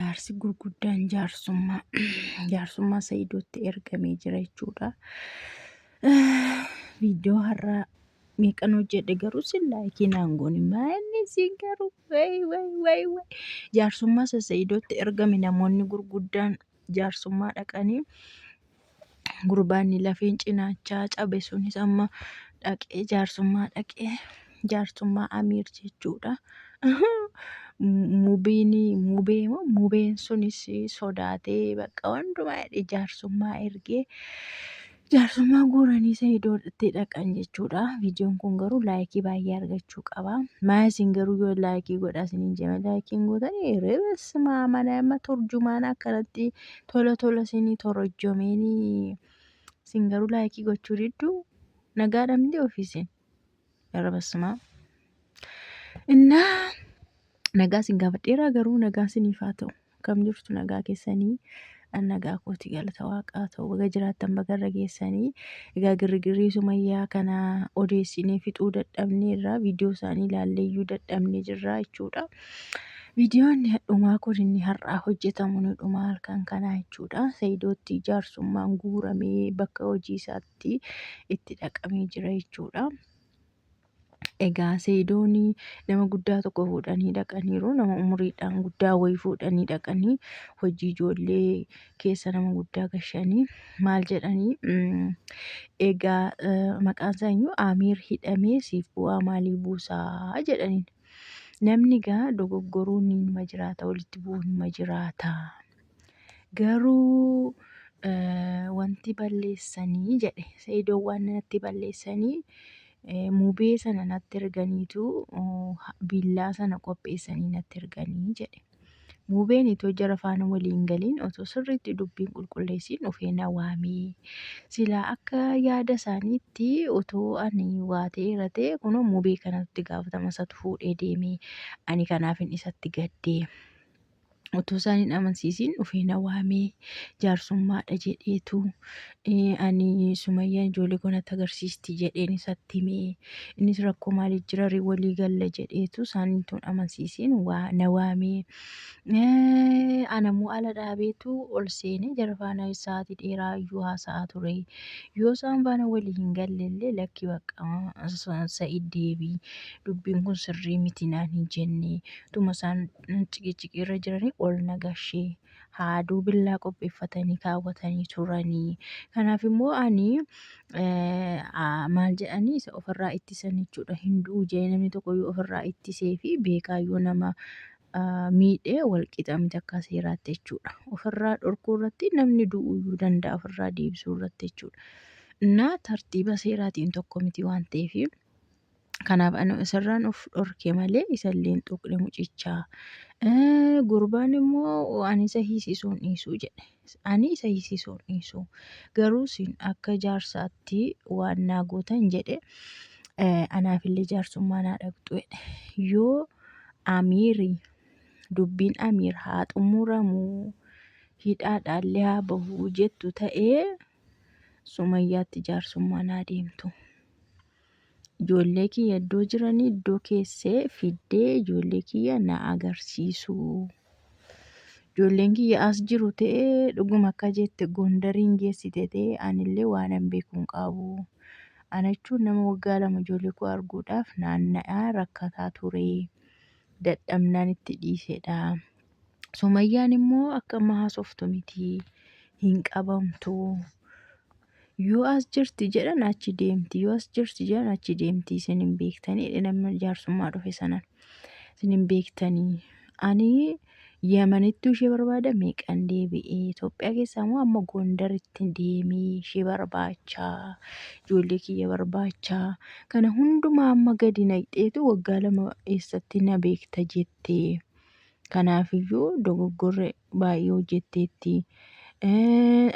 Jaarsi gurguddaan jaarsummaa jaarsummaa Sa'iidootti ergamee jira jechuudha. Viidiyoo har'aa meeqan hojjedhe garuu sin laayikii naan goone maanni siin garuu wayi wayi wayi wayi jaarsummaa Sa'iidootti ergame namoonni gurguddaan jaarsummaa dhaqanii gurbaanni lafeen cinaachaa cabe sunis amma dhaqee jaarsummaa dhaqee jaarsummaa amiir jechuudha. Mubiin mubee moo mubeen sunis sodaatee bakka hundumaa hidhee jaarsummaa ergee jaarsummaa guuranii sa'idoo itti dhaqan jechuudha. Viidiyoon kun garuu laayikii baay'ee argachuu qaba. Maa isin garuu yoo laayikii godhaa isiniin jedhame laayikiin gootanii reebes maa mana amma turjumaan akkanatti Tola tola isinii torojjomeenii isin garuu laayikii gochuu didduu nagaa dhabdee ofii isin irra bassumaa. Innaa nagaa isin gaafadheeraa garuu nagaa isiniif haa ta'u kam jirtu nagaa keessanii an nagaa kooti galata waaqaa ta'u baga jiraattan baga irra geessanii egaa girgirrii sumayyaa kana odeessinee fixuu dadhabnee irraa viidiyoo isaanii ilaallee iyyuu dadhabnee jirraa jechuudha. Viidiyoon dhumaa kun inni har'aa hojjetamu ni dhuma halkan kanaa jechuudha. Sayidoottii jaarsummaan guuramee bakka hojii isaatti itti dhaqamee jira jechuudha. Egaa sayidoon nama guddaa tokko fuudhanii dhaqaniiru. Nama umuriidhaan guddaa wayii fuudhanii dhaqanii hojii ijoollee keessa nama guddaa gashanii maal jedhanii mm, egaa eh, maqaan isaa iyyuu Amiir hidhamee siif bu'aa maalii buusaa jedhaniin. Namni gaa dogoggoruu ni nima jiraata, walitti bu'uu nima jiraata. Garuu eh, wanti balleessanii jedhe Sa'idoon waan natti balleessanii eh, mubee sana natti erganiitu oh, ha- billaa sana qopheessanii natti erganii jedhe. Muubeen itoo jara faana walii hin galiin otoo sirriitti dubbii hin qulqulleessiin dhufee na waame. Silaa akka yaada isaaniitti otoo ani waa ta'eera ta'e kunoo muubee kanatu itti gaafatama isatu fuudhee deeme. Ani kanaafin isatti gadde. Otoo isaan hin amansiisiin dhufee na waame. Jaarsummaadha jedheetu Ani Sumayyaan ijoollee koo natti agarsiisti jedheen isatti hime. Innis rakkoo maalii jira ree walii galla jedheetu isaanii tun amansiisiin waa na waame. Anammoo ala dhaabeetu ol seenee jara faana sa'aatii dheeraa iyyuu haasa'aa ture. Yoo isaan faana walii hin galle illee lakki bakka sa'id deebii dubbiin kun sirrii miti naan hin jenne. Tuma isaan ciqiciqii irra jiranii ol na gashee. haaduu billaa qopheeffatanii kaawwatanii turanii. Kanaaf immoo ani maal jedhanii isa ofirraa ittisan jechuudha. Hin du'u jedhee namni tokko yoo ofirraa ittisee fi beekaa yoo nama miidhee wal qixa miti akka seeraatti jechuudha. Ofirraa dhorkuu irratti namni du'uu iyyuu danda'a ofirraa deebisuu irratti jechuudha. Innaa tartiiba seeraatiin tokko miti waan ta'eef Kanaaf anu isarraan of dhorke malee isalleen tuqne mucichaa. Eh, Gurbaan immoo ani isa hiisisuun dhiisu jedhe. Ani isa hiisisuun dhiisu. Garuu isin akka jaarsaatti waan naa gootan jedhe eh, anaafillee jaarsummaa naa dhaqxu jedhe. Yoo Amiiri dubbiin Amiir haa xumuramu hidhaadhaallee haa bahu jettu ta'ee Sumayyaatti jaarsummaa naa deemtu. Ijoollee kiyya iddoo jiranii iddoo keessee fiddee ijoollee kiyya na agarsiisu. Ijoolleen kiyya as jiru ta'e dhuguma akka jette Gondariin geessite ta'e anillee waan hin beeku hin qabu. Ana jechuun nama waggaa lama ijoollee koo arguudhaaf naanna'aa rakkataa ture. Dadhabnaan itti dhiisedha. Sumayyaan immoo akka amma haasoftu miti hin qabamtu. Yoo as jirti jedhan achi deemti yoo as jirti jedhan achi deemti isin hin beektanii nama jaarsummaa dhufe sanan isin hin beektanii. Ani Yamanittuu ishee barbaada meeqan deebi'ee Itoophiyaa keessaa immoo amma Gondaritti deemee ishee barbaachaa ijoollee kiyya barbaachaa kana hundumaa amma gadi naqxeetu waggaa lama eessatti na beekta jettee. Kanaafiyyuu dogoggorri baay'ee hojjetteetti.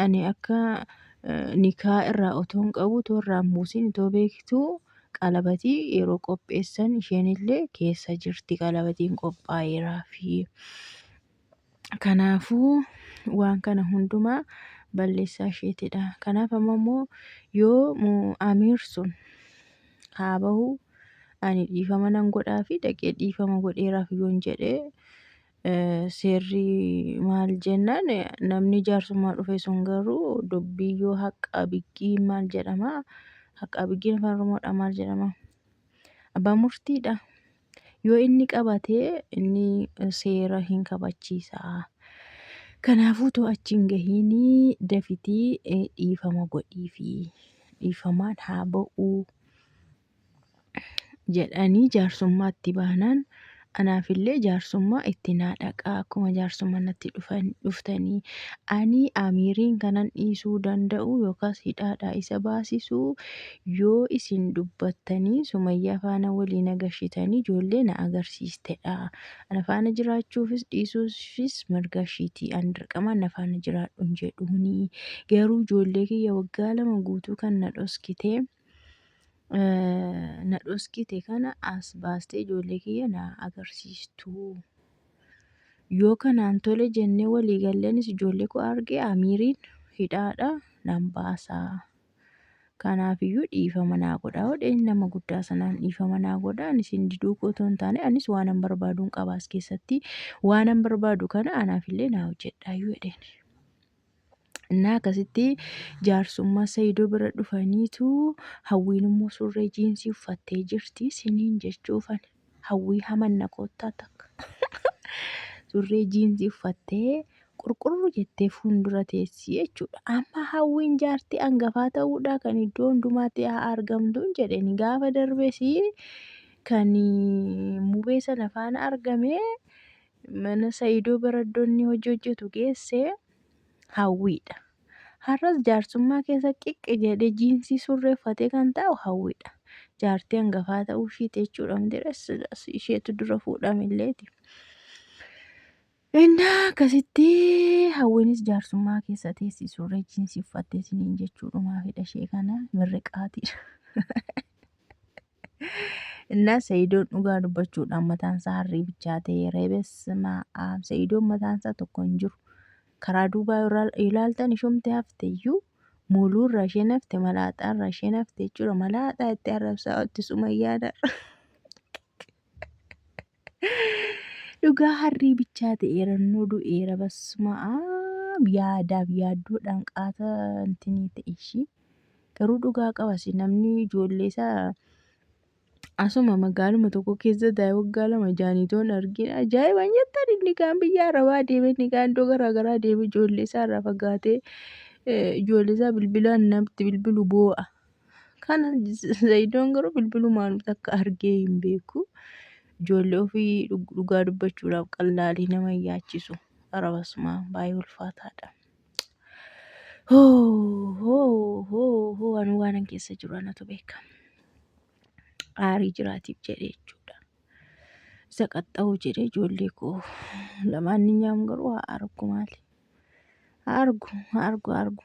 Ani akka nikaa irraa otoon qabu otoo irraa hin buusin otoo beektuu qalabatii yeroo qopheessan isheen illee keessa jirti qalabatiin qophaa'eeraafi. Kanaafuu waan kana hundumaa balleessaa isheetidha. Kanaaf amma immoo yoo amiir sun haa bahu ani dhiifama nan godhaa fi dhaqee dhiifama godheeraaf yoon jedhee seerri maal jennaan namni jaarsummaa dhufe sun garuu dubbii yoo haqqaa biggii maal jedhama haqqaa biggiin afaan oromoodha maal jedhama abbaa murtiidha. Yoo inni qabate inni seera hin kabachiisa. Kanaafuu too achi hin gahiinii dafitii eh, dhiifama godhiifi. Dhiifamaan haa ba'uu jedhanii jaarsummaa itti baanaan anaafillee jaarsummaa itti naa dhaqaa akkuma jaarsummaa natti dhufan dhuftanii ani amiiriin kanan dhiisuu danda'u yookaas hidhaadhaa isa baasisuu Yoo isin dubbattanii Sumayyaa faana walii na gashitanii ijoollee na agarsiistedha. Ana faana jiraachuufis dhiisuufis mirga ishiiti. Ani dirqamaan na faana jiraadhu hin jedhuuni. Garuu ijoollee kiyya waggaa lama guutuu kan na dhoskite na dhoskite kana as baastee ijoollee kiyya na agarsiistuu. Yoo kanaan tole jennee walii gallanis ijoollee koo arge Amiiriin hidhaadha nan baasaa. Kanaaf iyyuu dhiifama naa godhaa jedheen nama guddaa sanaan dhiifama naa godhaa ani isin diduu koo otoo hin taane anis waanan barbaaduun qaba as keessatti waanan barbaadu kana anaaf illee naa hojjedhaa iyyuu jedheen. Innaa akkasitti jaarsummaa Sayidoo bira dhufaniitu hawwiin immoo surree jiinsii uffattee jirti siniin jechuufani. Hawwii hamanna koottaa takka. Surree jiinsii uffattee qurqurru jettee fuuldura teessii jechuudha. Amma hawwiin jaartii angafaa ta'uudhaa kan iddoo hundumaatti haa argamtuun jedheen gaafa darbes kan mubee sana faana argame mana Sa'iidoo baraddonni hojii hojjetu geesse hawwiidha. Har'as jaarsummaa keessa qiqqi jedhee jiinsii surree uffatee kan taa'u Hawwiidha. Jaartii hangafaa ta'uu ishiiti jechuudha Mitirees silas isheetu dura fuudhamilleeti. Innaa akkasitti Hawwiinis jaarsummaa keessa teessi surree jiinsii uffattee isiniin jechuudhumaafidha ishee kana mirriqaatiidha. Innaa Sa'idoon dhugaa dubbachuudhaan mataansaa harrii bichaa ta'e reebesma Sa'idoon mataansaa tokko hin jiru. Karaa duubaa yoo ilaaltan ishumti hafte iyyuu muuluu irraa isheen hafte malaaxaa irraa isheen hafte jechuudha. Malaaxaa itti arrabsaa itti sumayyaadha. Dhugaa harrii bichaa ta'eera nu du'eera basuma yaadaaf yaaddoodhaan qaata intinii ta'e ishii garuu dhugaa qabasi namni ijoollee isaa asuma magaaluma tokko keessa daa'e waggaa lama jaaniitoon argina ajaa'ibaan jettan inni kaan biyya arabaa deeme inni kaan iddoo garaa garaa deeme ijoollee isaa irraa fagaatee ijoollee isaa bilbilaan namatti bilbilu boo'a Kana Zayidoon garuu bilbilumaan takka argee hin beeku. Ijoollee ofii dhug- dhugaa dubbachuudhaaf qallaalii nama hin yaachisu. Arabasuma baay'ee ulfaataadha. Hoo hoo hoo hoo ani waanan keessa jiru anatu beeka. Aarii jiraatiif jedhee jechuudha. Isa qaxxa'uu jedhee ijoollee koo lamaan ni nyaamu garuu haa argu maali. Haa argu haa argu haa argu.